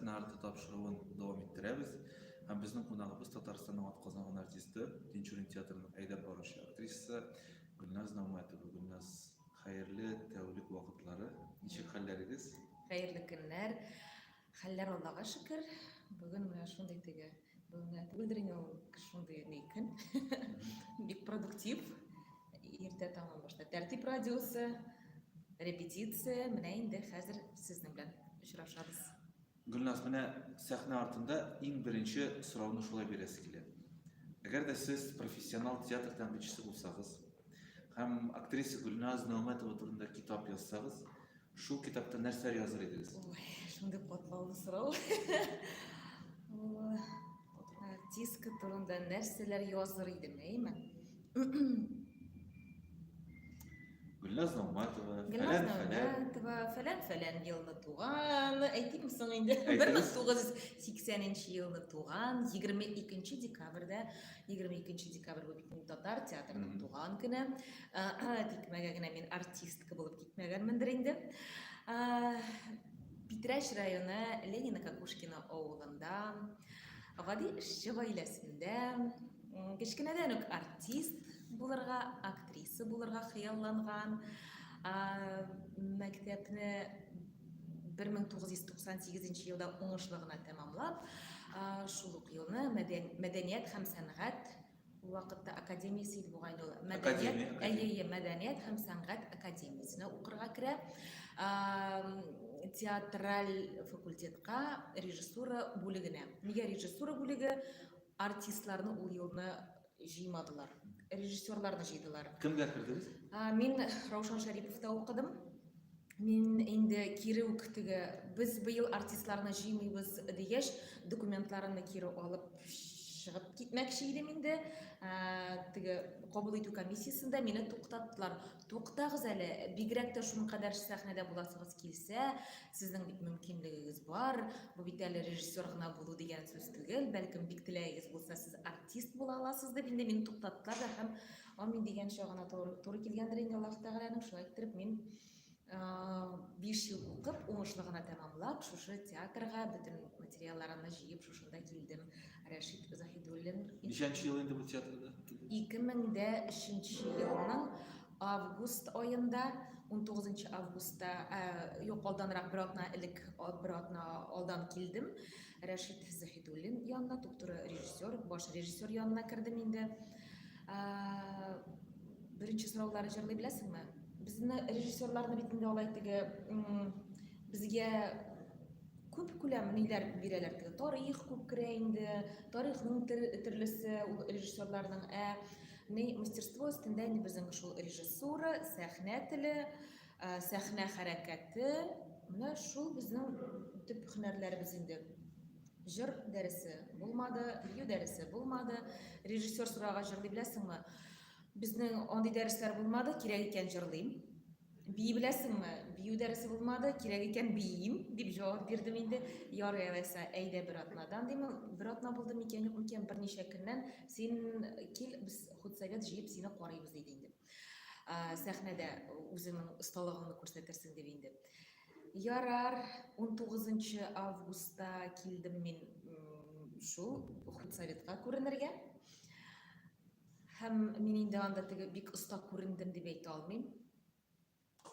Нарты тапшыруын дәвам иттерәбез. Һәм безнең кунагыбыз Татарстанның атказанган артисты, Тинчурин театрының әйдәп баручы актрисасы Гөлназ Наумәтова. Гөлназ, хәерле тәүлек вакытлары. Ничек хәлләрегез? Хәерле көннәр. Хәлләр Аллага шөкер. Бүген менә шундый теге Бүгенге түгелдер инде ул кеше шундый ни көн. Бик продуктив. Иртә таңнан башлап тәртип радиосы, репетиция, менә инде хәзер сезнең белән очрашабыз. Гөлназ, менә сәхнә артында иң беренче сорауны шулай бирәсе килә. Әгәр дә сез профессионал театр тәнкыйтьчесе булсагыз һәм актриса Гөлназ Нәүмәтова турында китап язсагыз, Шул китапта нәрсәләр языр идегез? Ой, шундый катлаулы сорау. Артистка турында нәрсәләр языр идем, әйме? Гөлназ Ногматова, Гөлназ Ногматова, фәлән фәлән елны туган, әйтим соң инде, 1980 нче елны туган, 22 декабрьдә, 22 декабрь бу бит татар театрының туган көне. Тикмәгә генә мин артистка булып Мәгәрмендер инде. Питрәч районы Ленина Какушкина авылында гади эшче гаиләсендә кечкенәдән үк артист булырга, актриса булырга хыялланган. Мәктәпне 1998 елда уңышлы гына тәмамлап, шул ук елны мәдәният һәм сәнгать Ул вакытта академиясе иде бугай инде ул. Мәдәният, әйе, мәдәният һәм сәнгать академиясенә укырга керә. Театраль факультетка режиссура бүлегенә. Нигә режиссура бүлеге? Артистларны ул елны җыймадылар. Режиссерларны җыйдылар. Кемгә кердегез? Мин Раушан Шәриповта укыдым. Мин инде кире үк теге без быел артистларны җыймыйбыз дигәч, документларымны кире алып чыгып китмәкче идем инде. Ә, теге кабул итү комиссиясендә мине туктаттылар. Туктагыз әле, бигрәк тә шуның кадәр сәхнәдә буласыгыз килсә, сезнең бит мөмкинлегегез бар. Бу бит әле режиссер гына булу дигән сүз түгел. Бәлкем бик теләгегез булса, сез артист була аласыз дип инде мине туктаттылар да һәм Амин дигәнчә гына туры, туры килгәндер инде Аллаһ Тәгаләнең. Шулай иттереп мин 5 ел укып, уңышлы гына тәмамлап, шушы театрга бөтен материалларымны җыеп шушында килдем. Рәшит Заһидуллин. Ничәнче ел инде бу театрда? 2003 елның август аенда 19 августта, юк, алданрак бер атна элек, бер атна алдан килдем. Рәшит Заһидуллин янына, туп-туры режиссер, баш режиссер янына кердем инде. Беренче сораулары җырлый беләсеңме? Безне режиссерларны бит инде алай теге безгә күп күләм ниләр бирәләр теге тарих күп керә инде, тарихның төрлесе ул режиссерларның, ә ни мастерство өстендә ни безнең шул режиссура, сәхнә теле, Ә, сәхнә хәрәкәте, менә шул безнең төп һөнәрләребез инде. Җыр дәресе булмады, бию дәресе булмады. Режиссер сорага җырлый беләсеңме? Безнең андый дәресләр булмады, кирәк икән җырлыйм. Бии беләсеңме? Бию дәресе булмады, кирәк икән биим, дип җавап бирдем инде. Ярый алайса, әйдә бер атнадан димем. Бер атна булды микән, юк микән, берничә көннән син кил, без худсовет җыеп сине карыйбыз, диде инде. сәхнәдә үзеңнең осталыгыңны күрсәтерсең дип инде. Ярар, 19 августта килдем мин шул худсоветка күренергә. Һәм мин инде анда теге бик оста күрендем дип әйтә алмыйм.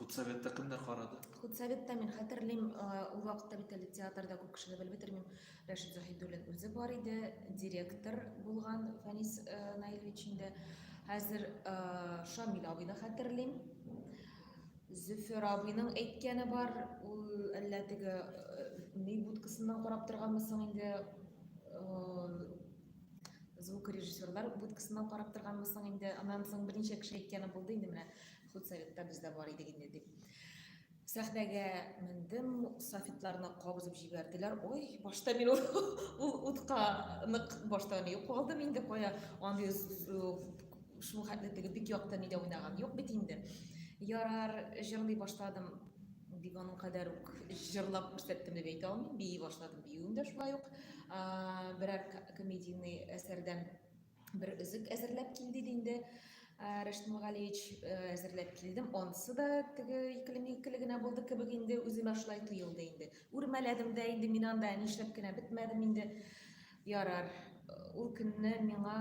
Худсоветта кемнәр карады? Худсоветта мин хәтерлим, ул вакытта бит әле театрда күп кешене белеп бетермим. Рәшит Заһидуллин үзе бар иде, директор булган Фәнис Наилевич инде. Хәзер Шамил абый да хәтерлим. Зөфәр абыйның әйткәне бар, ул әллә теге ни будкасыннан карап торганмы соң инде звукорежиссерлар будкасыннан карап торганмы соң инде, аннан соң берничә кеше әйткәне булды инде менә Худсоветта без дә бар идек инде дип. Сәхнәгә мендем, софитларны кабызып җибәрделәр. Ой, башта мин ул, ул утка нык башта ни калдым инде кая. Андый шул хәтле теге бик якты нидә уйнаган юк бит инде. Ярар, җырлый башладым. Бик аның кадәр үк җырлап күрсәттем дип әйтә алмыйм. Бии башладым, биюем дә шулай ук. Берәр комедийный әсәрдән бер өзек әзерләп кил диде инде Рәшит Мөгалиевич әзерләп килдем. Ансы да теге икелеме икеле генә булды кебек инде үземә шулай тоелды инде. Үрмәләдем дә инде мин анда нишләп кенә бетмәдем инде. Ярар, ул көнне миңа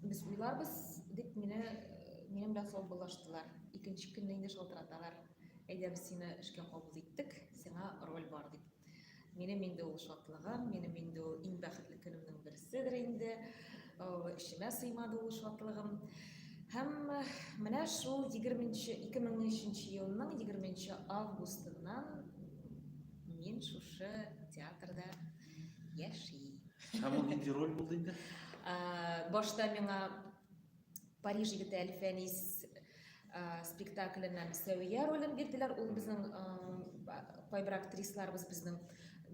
без уйларбыз дип мине минем белән саубуллаштылар. Икенче көнне инде шалтыраталар. Әйдә без сине эшкә кабул иттек, сиңа роль бар дип. Минем инде ул шатлыгым, минем инде ул иң бәхетле көнемнең берседер инде. Эчемә сыймады ул шатлыгым. Һәм менә шул 20-нче 2003 елның 20 августыннан мин шушы театрда яши. Һәм ул нинди роль булды инде? Башта миңа Париж егете Әлфәнис э, спектакленә Сәвия ролен бирделәр. Ул безнең э, кайбер актрисларыбыз безнең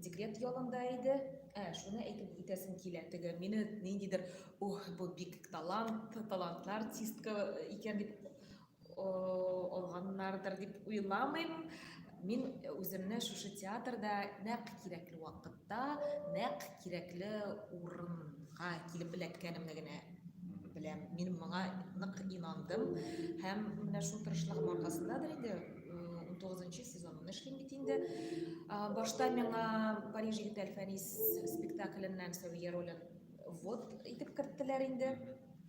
декрет ялында иде. Ә, шуны әйтеп үтәсем килә. Теге мине ниндидер, ух, бу бик талант, талантлы артистка икән дип алганнардыр дип уйламыйм. Мин үземне шушы театрда нәкъ кирәкле вакытта, нәкъ кирәкле урынга килеп эләккәнемне генә беләм. Мин моңа нык инандым һәм менә шул тырышлыгым аркасындадыр инде 19 сезонын эшлим бит инде. Башта миңа Париж егете Әлфәнис спектакленнән Сәвия ролен вот итеп керттеләр инде.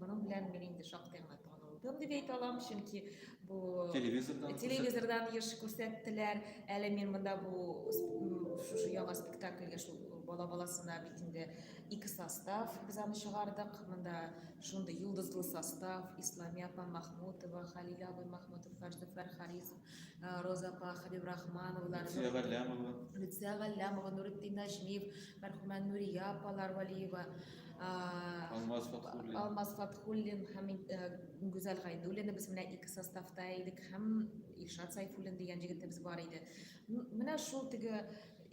Моның белән мин инде шактый гына танылдым дип әйтә алам, чөнки бу телевизордан телевизордан еш күрсәттеләр. Әле мин монда бу шушы яңа спектакльгә шул бала баласына бит инде ике состав без аны чыгардык. Монда шундый йолдызлы состав, Исламия апа Махмутова, Халил абый Махмутов, Фәрзәфәр Харизов, Э, Роза апа, Хәбиб Рахмановлар, Люция Галлямова, Люция Галлямова, Нуритдин Нәҗмиев, мәрхүмә Нурия апалар Валиева, э, Алмаз Фатхуллин. Алмаз Фатхуллин һәм э, Гүзәл Гайдуллина без менә ике составта идек һәм Илшат Сайфуллин дигән җегетебез бар иде. Менә шул теге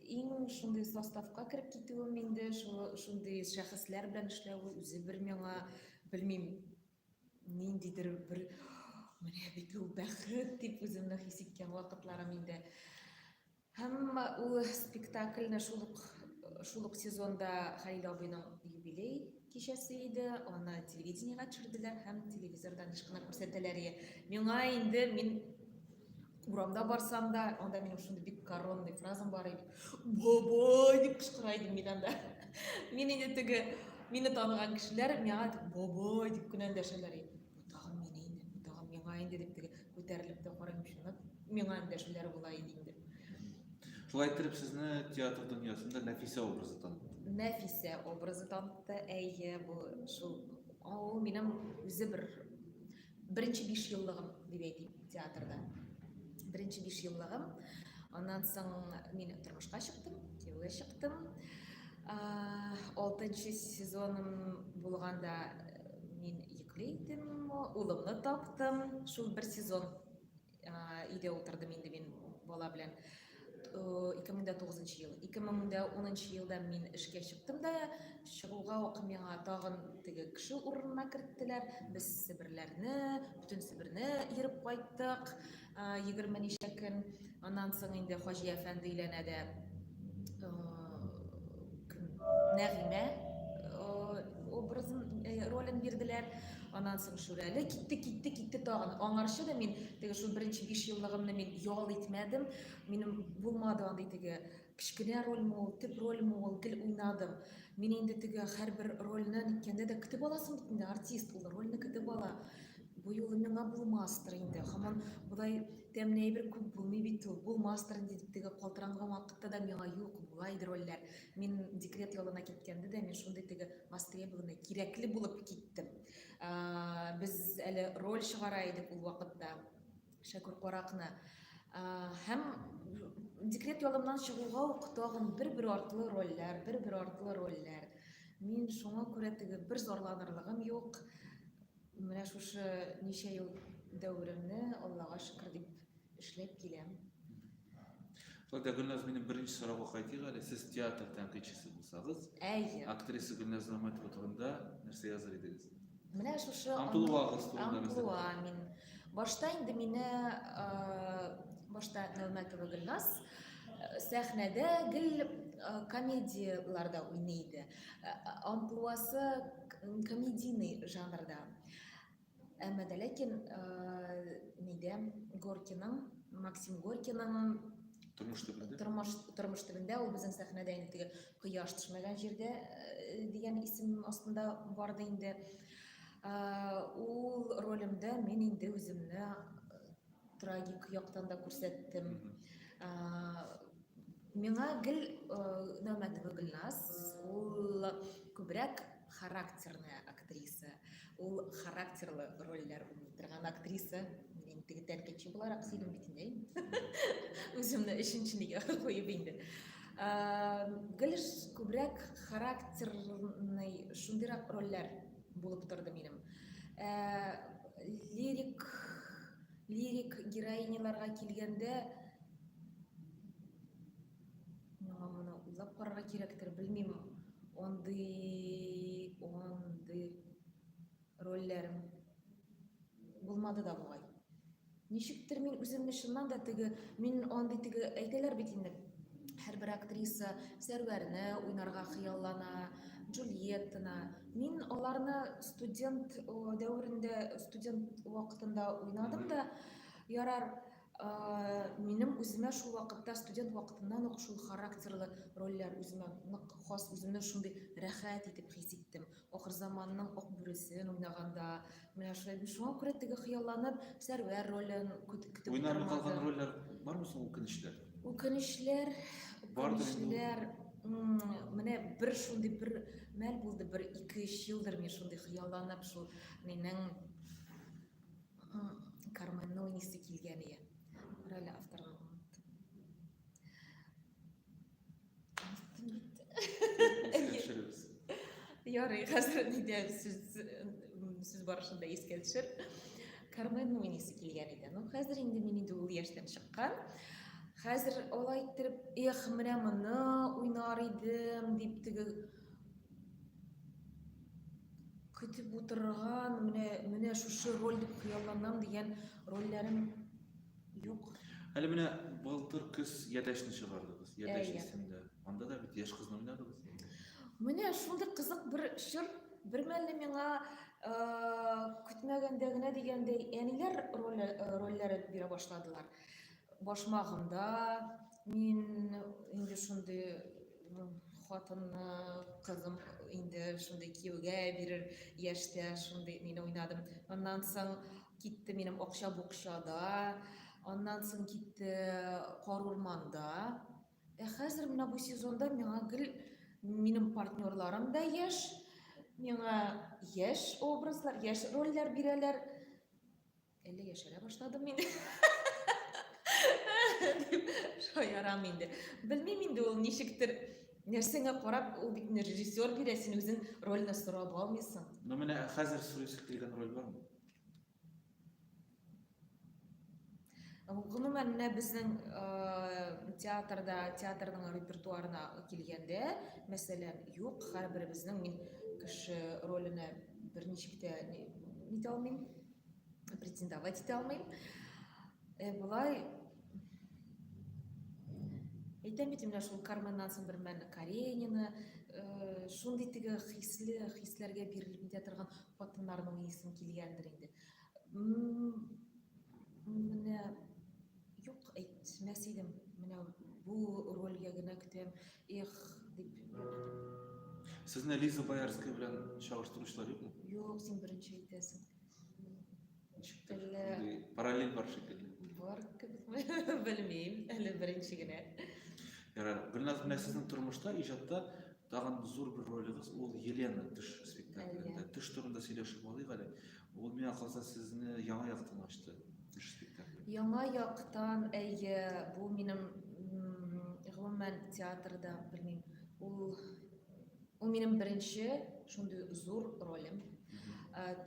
иң шундый составка кереп китүем инде, шундый шәхесләр белән эшләве үзе бер миңа, белмим, Ниндидер бер менә бит ул бәхет дип үземне хис иткән вакытларым инде. Һәм ул спектакльне шул ук шул ук сезонда Хәлил абыйның юбилей кичәсе иде, аны телевидениега төшерделәр һәм телевизордан ышкына күрсәтәләр иде. Миңа инде мин Урамда барсам да, анда минем шундый бик коронный фразам бар иде. Бабай дип кычкыра идем мин анда. Мин инде теге мине таныган кешеләр миңа бабай дип кенә дәшәләр иде. Бу тагын мин инде, бу тагын миңа инде дип теге күтәрелеп тә карыйм шуны. Миңа дәшүләр була иде инде. Шулай итеп сезне театр дөньясында Нәфисә образы танытты. Нәфисә образы танытты. Әйе, бу шул. Ул минем үзе бер Беренче биш еллыгым дип әйтим театрда. Беренче биш еллыгым. Аннан соң мин тормышка чыктым, кияүгә чыктым. Алтынчы сезоным булганда мин йөкле идем, улымны таптым. Шул бер сезон өйдә утырдым инде мин бала белән. 2009 э, ел. 2010 елда мин эшкә чыктым да, чыгуга ук миңа тагын теге кеше урынына керттеләр. Без Себерләрне, бүтән Себерне йөреп кайттык. 20 э, ничә көн. Аннан соң инде Хаҗи әфәнде өйләнә дә э, Нәгыймә образын, ролен бирделәр. Аннан соң Шүрәле китте, китте, китте тагын. Аңарчы да мин теге шул беренче 5 еллыгымны мин ял итмәдем. Минем булмады андый теге кечкенә рольме ул, төп рольме ул, гел уйнадым. Мин инде теге һәрбер рольне ниткәндә дә көтеп аласың бит инде, артист ул рольне көтеп ала. Бу юлы миңа булмастыр инде. Һаман болай Тәмле әйбер күп булмый бит ул. Булмастыр инде, дип теге калтыранган вакытта да миңа юк, була иде рольләр. Мин декрет ялына киткәндә дә мин шундый теге востребованный, кирәкле булып киттем. Без әле роль чыгара идек ул вакытта Шәкүр каракны. Һәм декрет ялымнан чыгуга ук тагын бер-бер артлы рольләр, бер-бер артлы рольләр. Мин шуңа күрә теге бер зарланырлыгым юк. Менә шушы ничә ел дәверемне Аллага шөкер дип эшләп киләм. Шулай Гөлназ, минем беренче сорауга кайтыйк әле. Сез театр тәнкыйтьчесе булсагыз, әйе. Актриса Гөлназ Нәмәтова турында нәрсә языр идегез? Менә шушы Антулуагыз турында Антулуа мин. Башта инде мине башта Нәүмәтова Гөлназ сәхнәдә гел комедияләрдә уйный иде. Э, амплуасы комедийный жанрда әмма дә ләкин э, нидә горкиның максим горкиның тормыш төбендә тормыш тормыш төбендә ул безнең сәхнәдә инде теге кояш төшмәгән җирдә э, дигән исем астында барды инде э, ул ролемдә мин инде үземне э, Трагик яктан да күрсәттем. Миңа гел Нәүмәтова Гөлназ, ул күбрәк характерная актриса. Ул характерлы рольләр уйный торган актриса. Мин теге тәркече буларак сөйлим бит инде. Үземне өченчене якын куеп инде. Гел күбрәк характерный шундыйрак рольләр булып торды минем. Ә, лирик лирик героиняларга килгәндә миңа моны уйлап карарга кирәктер, белмим. Андый, андый рольләрем булмады да бугай. Ничектер мин үземне чыннан да теге, мин андый теге әйтәләр бит инде. Һәрбер актриса Сәрвәрне уйнарга хыяллана, Джульеттаны. Мин аларны студент дәверендә, студент вакытында уйнадым да, ярар, минем үземә шул вакытта студент вакытыннан ук шул характерлы рольләр үземә нык хас, үземне шундый рәхәт итеп хис иттем. Ахырзаманның ак бүресен уйнаганда, менә шулай бит, шуңа күрә теге хыялланып, Сәрвәр ролен көтеп көтеп Уйнармый калган утырмадым. рольләр бармы соң үкенечләр? Үкенечләр, Бардыр инде ул. үкенечләр, м, менә бер шундый бер мәл булды, бер ике-өч елдыр мин шундый хыялланып, шул минең м, Карменны уйныйсы килгән иде. Кара әле, авторга оныттым. Ярый, хәзер нидә сүз сүз барышында искә төшер. Карменның уйныйсы килгән иде. Ну, хәзер инде мин инде ул яшьтән чыккан. Хәзер алай иттереп, эх, менә моны уйнар идем дип теге көтеп утырган, менә менә шушы роль дип хыялланам дигән рольләрем Юк. Әле менә былтыр көз Ядәшне чыгардыгыз. Ядәш исемдә. Анда да бит яшь кызны уйнадыгыз. Менә шундый кызык бер чор. Бермәлне миңа көтмәгәндә генә дигәндәй әниләр рольләре бирә башладылар. Башмагымда мин инде шундый хатынны, кызым инде шундый кияүгә бирер яшьтә шундый мине уйнадым. Аннан соң Китте минем акча букчада, аннан соң китте кар урманда. Ә хәзер менә бу сезонда миңа гел минем партнерларым да яшь, миңа яшь образлар, яшь рольләр бирәләр. Әллә яшәрә башладым мин? дип шаярам инде. Белмим инде ул ничектер нәрсәңә карап ул бит режиссер бирә, син үзең рольне сорап алмыйсың. Ну менә хәзер сөйләшеп килгән роль бармы? Гомумән, менә безнең театрда, театрның репертуарына килгәндә, мәсәлән, юк, һәрберебезнең мин кеше роленә берничек тә нитә алмыйм, претендовать итә алмыйм. Э, болай әйтәм бит менә шул карманнан соң бермәлне каренина э, шундый теге хисле хисләргә бирелеп китә торган Хатыннарның исем килгәндер инде. Менә юк әйтмәс идем. Менә бу рольгә генә көтәм. Эх, дип. Сезне Лиза Боярская белән чагыштыручылар юкмы? Юк, син беренче әйтәсең. Шикелле. Параллель бар шикелле. Бар кебек белмим, әле беренче генә. Ярар, Гөлназ менә сезнең тормышта, иҗатта тагын зур бер ролегез ул Елена төш спектаклендә. Төш турында сөйләшеп алыйк әле. Ул миңа калса сезне яңа яктан ачты. Төш спектакле. Яңа яктан, әйе, бу минем гомумән театрда, белмим, ул Ул минем беренче шундый зур ролем.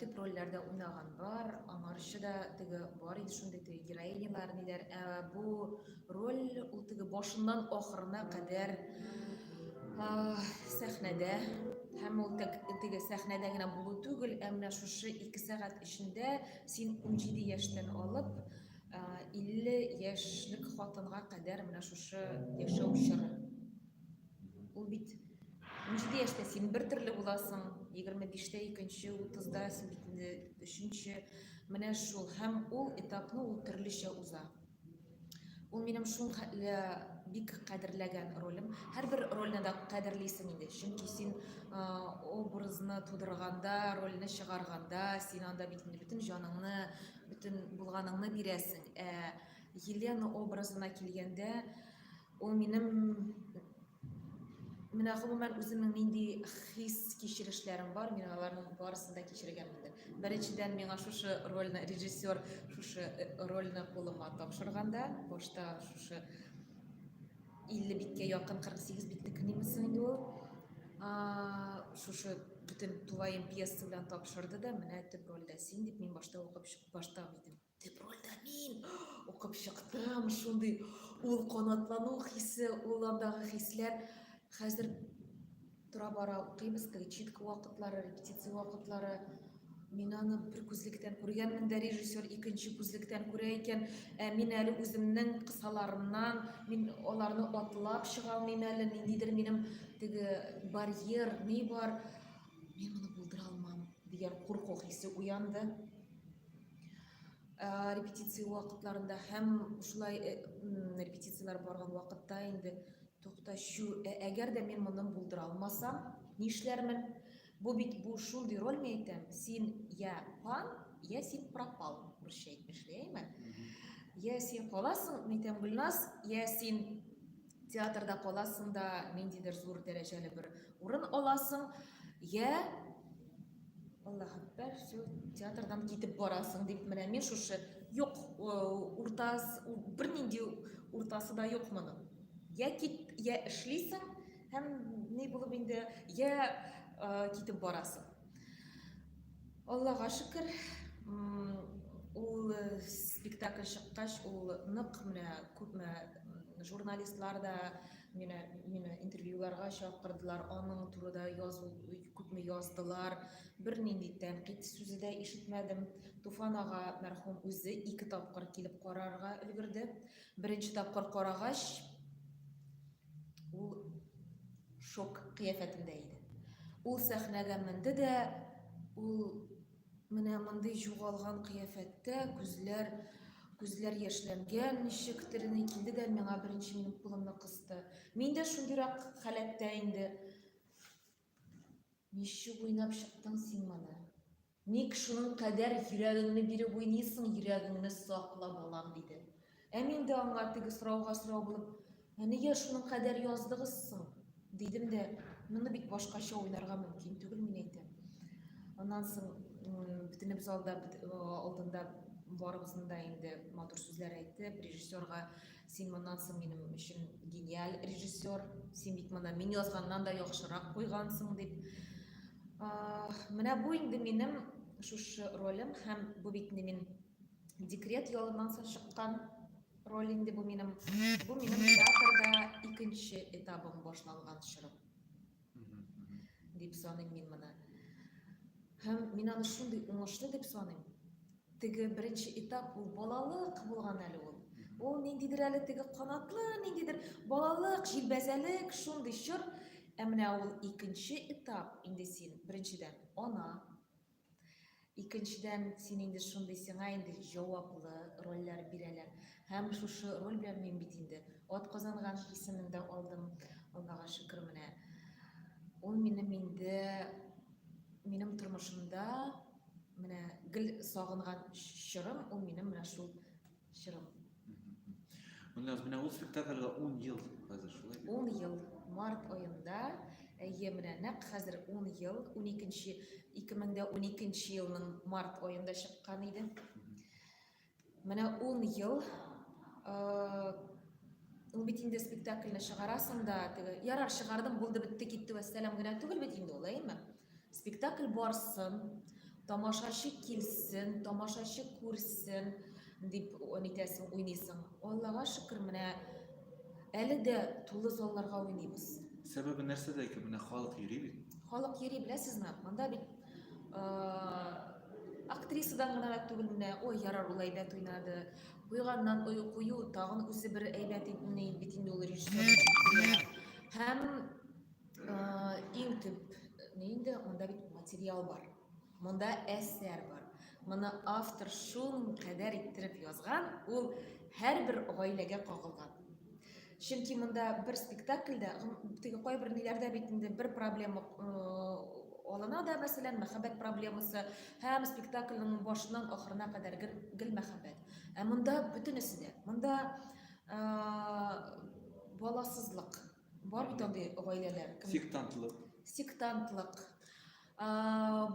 Төп рольләрдә уйнаган бар, аңарчы да теге бар иде шундый теге героинялар ниләр. Ә бу роль ул теге башыннан ахырына кадәр сәхнәдә һәм ул теге сәхнәдә генә булу түгел, ә менә шушы 2 сәгать эчендә син 17 яшьтән алып 50 яшьлек хатынга кадәр менә шушы яшәү чоры. Ул бит унҗиде яшьтә син бер төрле буласың, егерме биштә икенче, утызда син бит инде өченче. Менә шул һәм ул этапны ул төрлечә уза. Ул минем шул хәтле бик кадерләгән ролем. Һәрбер рольне дә кадерлисең инде, чөнки син образны тудырганда, рольне чыгарганда, син анда бит инде бөтен җаныңны, бөтен булганыңны бирәсең. Ә Елена образына килгәндә, Ул минем менә гомумән үземнең нинди хис кичерешләрем бар, мин аларның барысын да кичергәнмендер. Беренчедән, миңа шушы рольне режиссер шушы э, рольне кулыма тапшырганда, башта шушы 50 биткә якын 48 битне книмесе инде ул. Шушы бөтен тулаем пьеса белән тапшырды да, менә төп рольдә син дип мин башта укып башта идем. Дип рольдә мин укып чыктым, шундый ул канатлану хисе, ул андагы хисләр. Хәзер тора бара укыйбыз, перечитка вакытлары, репетиция вакытлары. Мин аны бер күзлектән күргәнмен дә, режиссер икенче күзлектән күрә икән. Ә мин әле үземнең кысаларымнан, мин аларны атлап чыга алмыйм әле, ниндидер минем теге барьер, ни бар, мин моны булдыра алмам дигән курку хисе уянды. Ә, репетиция вакытларында һәм шулай э, репетицияләр барган вакытта инде тукташу ә, әгәр дә мин моны булдыра алмасам нишләрмен бу бит бу шундый роль мин әйтәм син я пан я син пропал русча әйтмешли я син каласың мин әйтәм гөлназ я син театрда каласың да ниндидер зур дәрәҗәле бер урын аласың я Аллаһ әкбәр, все, театрдан китеп барасың дип менә мин шушы юк уртас бернинди уртасы да юк моның. Я кит, я эшлисең һәм ни булып инде я э, китеп барасың. Аллага шөкер, ул э, спектакль чыккач, ул нык менә күпме журналистлар да Мине, мине интервьюларга чакырдылар, аның турыда язу, күпме яздылар. Бер нинди тәнкыйть сүзе дә ишетмәдем. Туфан ага мәрхүм үзе ике тапкыр килеп карарга өлгерде. Беренче тапкыр карагач, ул шок кыяфәтендә иде. Ул сәхнәгә менде дә, ул Менә мондый җугалган кыяфәттә, күзләр күзләр яшьләнгән ничектер, ни килде дә миңа беренче минем кулымны кысты. Мин дә шундыйрак халәттә инде. Ничек уйнап чыктың син моны? Ник шуның кадәр йөрәгеңне биреп уйныйсың, йөрәгеңне сакла, балам, диде. Ә мин дә аңа теге сорауга сорау булып, Ә нигә шуның кадәр яздыгыз соң? дидем дә, моны бит башкача уйларга мөмкин түгел, мин әйтәм. Аннан соң бөтенеп залда алдында барыбызны да инде матур сүзләр әйтеп, режиссерга син моннан соң минем өчен гениаль режиссер, син бит моны мин язганнан да яхшырак куйгансың дип. Менә бу инде минем шушы ролем һәм бу бит мин Декрет ялыннан соң чыккан роль инде бу минем. Бу минем театрда икенче этабым башланган чорым. Дип саныйм мин моны. Һәм мин аны шундый уңышлы дип саныйм. Теге беренче этап ул балалык булган әле ул. Ул ниндидер әле теге канатлы, ниндидер балалык, җилбәзәлек, шундый чор. Ә менә ул икенче этап инде син, беренчедән, ана, Икенчедән, син инде шундый, сиңа инде җаваплы рольләр бирәләр. Һәм шушы роль белән мин бит инде Атказанган исемен дә алдым, Аллага шөкер менә. Ул минем инде, минем тормышымда менә гел сагынган чорым, ул минем менә шул чыгып. Гөлназ, менә ул спектакльгә 10 ел хәзер шулай бит? 10 ел. Март аенда, әйе, менә нәкъ хәзер 10 ел, 12-нче 2012 елның март аенда чыккан иде. Менә 10 ел ул бит инде спектакльне чыгарасың да, теге ярар чыгардым, булды, бетте, китте, вәссәлам генә түгел бит инде ул, әйеме? Спектакль барсын, тамашачы килсен, тамашачы күрсен дип нитәсең, уйныйсың. Аллага шөкер, менә әле дә тулы залларга уйныйбыз. Сәбәбе нәрсәдә икән? Менә халык йөри бит. Халык йөри, беләсезме? Монда бит актрисадан гына да түгел менә, ой, ярар, ул әйбәт уйнады. Куйганнан ой, кую, тагын үзе бер әйбәт бит инде ул режиссер. Һәм Иң төп ни инде, монда бит материал бар. Монда әсәр бар. Моны автор шул кадәр иттереп язган, ул һәрбер гаиләгә кагылган. Чөнки монда бер спектакльдә, теге кайбер ниләрдә бит инде бер проблема алына да, мәсәлән, мәхәббәт проблемасы, һәм спектакльнең башыннан ахырына кадәр гел, гел мәхәббәт. Ә монда бөтенесе дә. Монда баласызлык, Бар бит андый гаиләләр. Сектантлык. Сектантлык.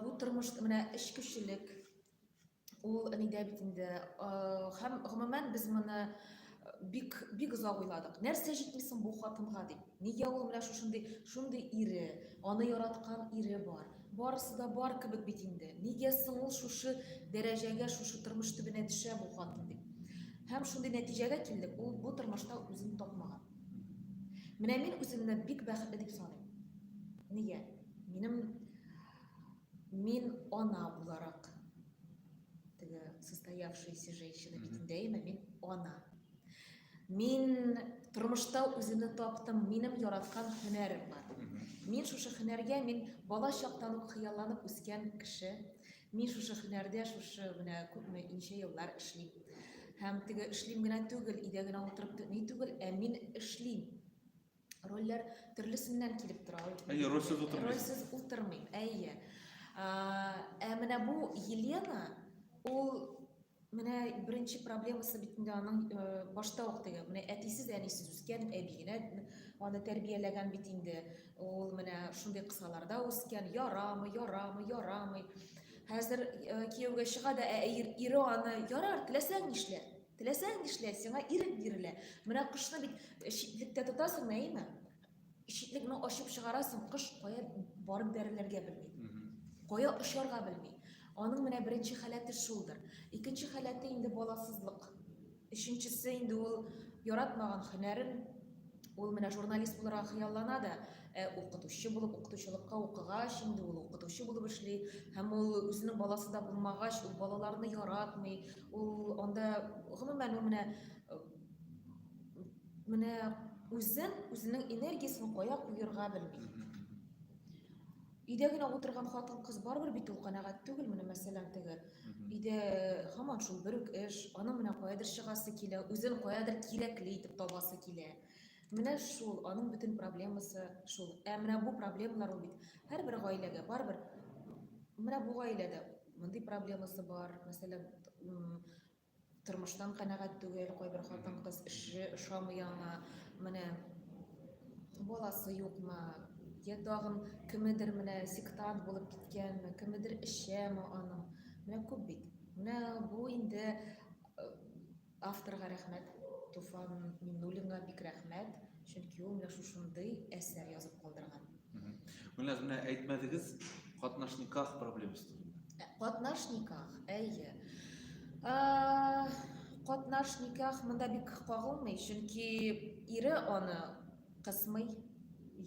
Бу тормыш менә эчкүчелек. Ул нидә бит инде. Һәм гомумән без моны бик бик озак уйладык. Нәрсә җитми соң бу хатынга дип? Нигә ул менә шушындый шундый ире, аны яраткан ире бар. Барысы да бар кебек бит инде. Нигә соң ул шушы дәрәҗәгә, шушы тормыш төбенә төшә бу хатын дип. Һәм шундый нәтиҗәгә килдек, ул бу тормышта үзен тапмаган. Менә мин үземне бик бәхетле дип саныйм. Нигә? Минем мин ана буларак теге состоявшаяся женщина битендә яме мин ана. Мин тормышта үземне таптым, минем яраткан һөнәрем бар. Мин шушы һөнәргә мин бала чактан ук хыялланып үскән кеше. Мин шушы һөнәрдә шушы менә күпме ничә еллар эшлим. Һәм теге эшлим генә түгел, өйдә генә утырып ни түгел, ә мин эшлим. Рольләр төрлесеннән килеп тора. Әйе, рольсез утырмыйм. Рольсез утырмыйм, әйе. Ә менә бу Елена, ул Менә беренче проблемасы бит инде аның э, башта ук теге. Менә әтисез, әнисез үскән, әби генә аны тәрбияләгән бит инде. Ул менә шундый кысаларда үскән, ярамый, ярамый, ярамый. Хәзер э, кияүгә чыга да, ә ире аны ярар, теләсәң нишлә. Теләсәң нишлә, сиңа ирек бирелә. Менә кошны бит э, читлектә тотасың, әйеме? Ишекне генә ачып чыгарасың, кош кая барып бәрелергә белми. Кая очарга белми. Аның менә беренче халәте шулдыр. Икенче халәте инде баласызлык. Өченчесе инде ул яратмаган һөнәрен Ул менә журналист буларак хыяллана да, ә укытучы булып укытучылыкка укыгач, инде ул укытучы булып эшли, һәм ул үзенең баласы да булмагач, ул балаларны яратмый, ул анда гомумән ул менә менә үзен үзенең энергиясен кая куерга белми өйдә генә утырган хатын кыз барыбер бит ул канәгать түгел менә мәсәлән теге өйдә һаман шул бер үк эш аның менә каядыр чыгасы килә үзен каядыр кирәкле итеп табасы килә менә шул аның бөтен проблемасы шул ә менә бу проблемалар ул бит һәрбер гаиләгә барыбер менә бу гаиләдә мондый проблемасы бар мәсәлән Тормыштан канәгать түгел, кайбер хатын-кыз эше ошамый аңа, менә баласы юкмы, я тагын кемедер менә сектант булып киткәнме, кемедер эчәме аның. Менә күп бит. Менә бу инде э, авторга рәхмәт, Туфан Миннуллинга бик рәхмәт, чөнки ул менә шушындый әсәр язып калдырган. Менә менә әйтмәдегез катнаш никах проблемасы турында. Ә, катнаш никах, әйе. Ә, катнаш никах монда бик кагылмый, чөнки ире аны кысмый.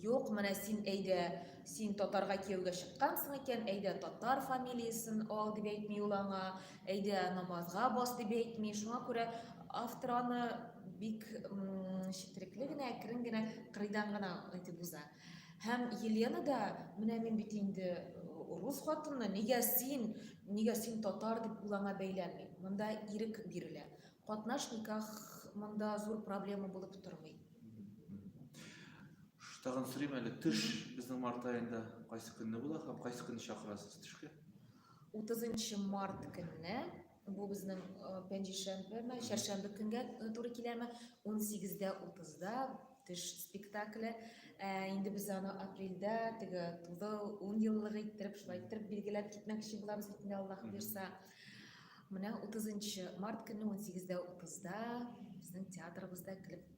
Юк, менә син әйдә, син татарга кияүгә чыккансың икән, әйдә татар фамилиясен ал дип әйтми ул аңа. Әйдә, намазга бас дип әйтми. Шуңа күрә автор аны бик четерекле генә, әкрен генә, кырыйдан гына әйтеп уза. Һәм Елена да, менә мин бит инде рус хатыны, нигә син, нигә син татар дип ул аңа бәйләнми. Монда ирек бирелә. Катнаш никах монда зур проблема булып тормый. Тагын сорыйм әле, төш безнең март аенда кайсы көнне була һәм кайсы көнне чакырасыз төшкә? 30 март көнне бу безнең пәнҗешәмбеме чәршәмбе көнгә туры киләме 18:30да төш спектакле инде без аны апрельдә теге тудыл ун еллыгы иттереп шулай иттереп билгеләп китмәкче булабыз бит инде аллаһ бирса менә 30 март көнне 18:30да безнең театрыбызда килеп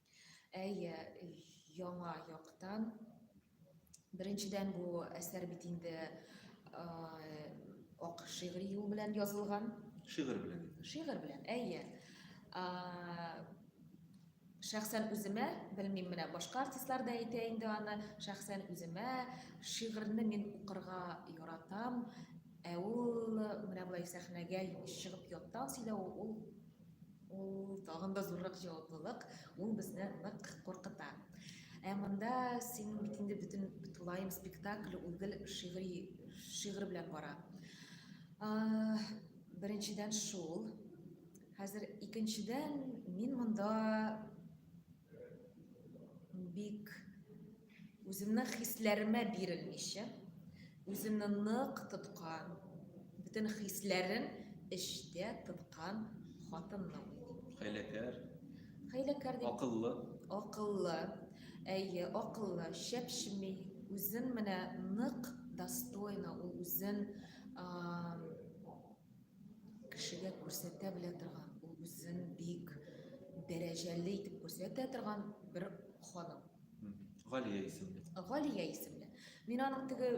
Әйе, яңа яктан. Беренчедән бу әсәр бит инде ак шигъри юл белән язылган. Шигырь белән. Шигырь белән, әйе. Шәхсән үземә, белмим, менә башка артистлар да әйтә инде аны, шәхсән үземә шигырьне мин укырга яратам, ә ул менә болай сәхнәгә чыгып яттан сөйләү ул Ул тагын да зуррак җаваплылык, ул безне нык куркыта. Ә монда син бит инде бөтен тулаем спектакль ул гел шигъри шигър белән бара. Беренчедән шул. Хәзер икенчедән мин монда Бик үземнең хисләремә бирелмичә, үземне нык тоткан, бөтен хисләрен эчтә тоткан хатынны уйлыйм. Хәйләкәр. Хәйләкәр дип. Акыллы. Акыллы. Әйе, акыллы, шәпшеми, үзен менә нык достойно, ул үзен кешегә күрсәтә белә торган, үзен бик дәрәҗәле итеп күрсәтә торган бер ханым. Галия исемле. Галия исемле. Мин аның теге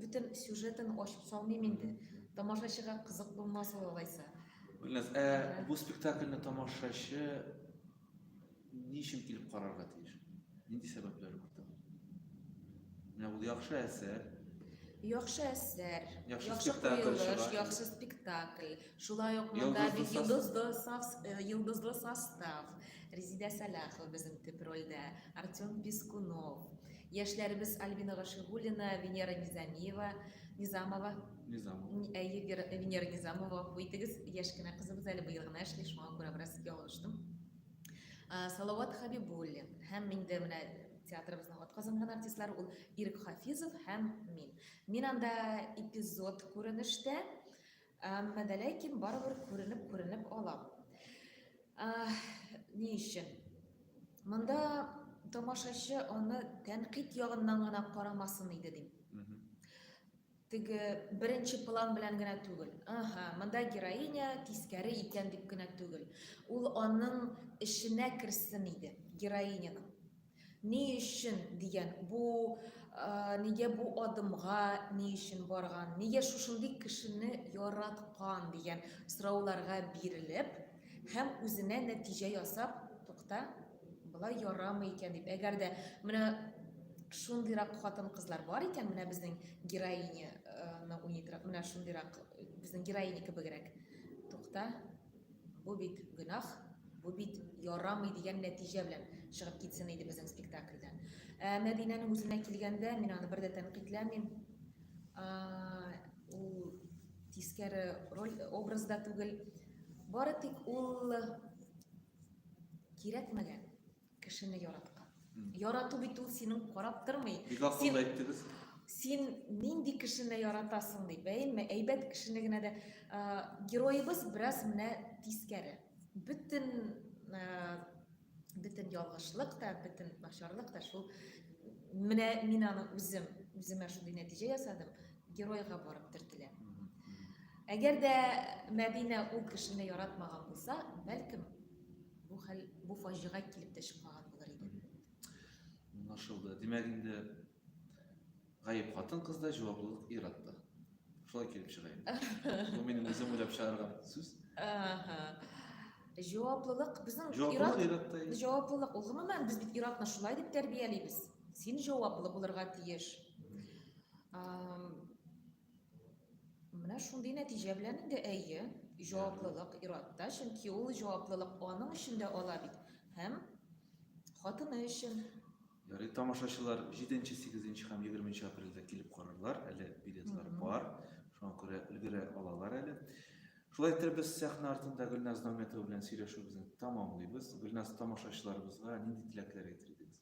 бөтен сюжетын ачып салмыйм инде. Тамашачыга кызык булмас ул алайса. Гөлназ, ә бу спектакльне тамашачы Ни өчен килеп карарга тиеш? Нинди сәбәпләр бар тагын? Менә ул яхшы әсәр. Яхшы әсәр, яхшы, яхшы куелыш, яхшы спектакль. Шулай ук монда бит йолдызлы состав, э, йолдызлы состав. Резидә Сәлахова безнең төп рольдә, Артем Пискунов. Яшьләребез Альбина Гашигулина, Венера Низамиева, Низамова Низамова. Әйе, Вера, Венера Низамова, гафу итегез, яшь кенә кызыбыз әле, быел гына эшли, шуңа күрә бераз ялгыштым. Ә, Салават Хабибуллин һәм мин дә менә театрыбызның атказанган артистлары ул Ирек Хафизов һәм мин. Мин анда эпизод күренештә, әмма дә ләкин барыбер күренеп күренеп алам. Ә, ни өчен? Монда тамашачы аны тәнкыйть ягыннан гына карамасын иде дим. Мгм. Теге беренче план белән генә түгел. Ага, монда героиня тискәре икән дип кенә түгел. Ул аның эшенә керсен иде, героиняның. Ни өчен дигән, бу нигә бу адымга ни өчен барган, нигә шушындый кешене яраткан дигән сорауларга бирелеп һәм үзенә нәтиҗә ясап, тукта, Болай ярамый икән дип. Әгәр дә менә шундыйрак хатын-кызлар бар икән, менә безнең героиня аны уйныйдырак, менә шундыйрак безнең героиня кебегрәк. Тукта, бу бит гөнаһ, бу бит ярамый дигән нәтиҗә белән чыгып китсен иде безнең спектакльдән. Ә Мәдинәнең үзенә килгәндә, мин аны бер дә тәнкыйтьләмим. Ул тискәре роль образда түгел. Бары тик ул Кирәкмәгән кешене яраткан. Ярату бит ул синең карап тормый. Бик акыллы әйттегез. Син нинди кешене яратасың дип, әйме, әйбәт кешене генә дә героебыз бераз менә тискәре. Бөтен бөтен ялгышлык та, бөтен начарлык та шул менә мин аны үзем, үземә шундый нәтиҗә ясадым. Геройга барып төртелә. Әгәр дә Мәдинә ул кешене яратмаган булса, бәлкем бу хәл бу фаҗига килеп тә чыкмаган булыр иде. Аңлашылды. Димәк инде гаеп хатын кызда, җаваплылык ир атта. Шулай килеп чыга инде. Бу минем үзем уйлап чыгарган сүз. Ага. Җаваплылык безнең ир-ат җаваплылык. Ул гомумән без бит ир-атны шулай дип тәрбиялибез. Син җаваплы булырга тиеш. Менә шундый нәтиҗә белән инде әйе, җаваплылык иратта, чөнки ул җаваплылык аның өчен дә ала бит һәм хатыны өчен. Ярый, тамашачылар 7-8 һәм 20 апрельдә килеп карарлар, әле билетлар бар, шуңа күрә өлгерә алалар әле. Шулай итеп без сәхнә артында Гөлназ Нәүмәтова белән сөйләшүебезне тәмамлыйбыз. Гөлназ тамашачыларыбызга нинди теләкләр әйтер идегез?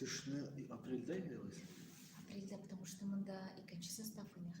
Төшне апрельдә инде без. Апрельдә, потому что монда икенче состав инде хәзер.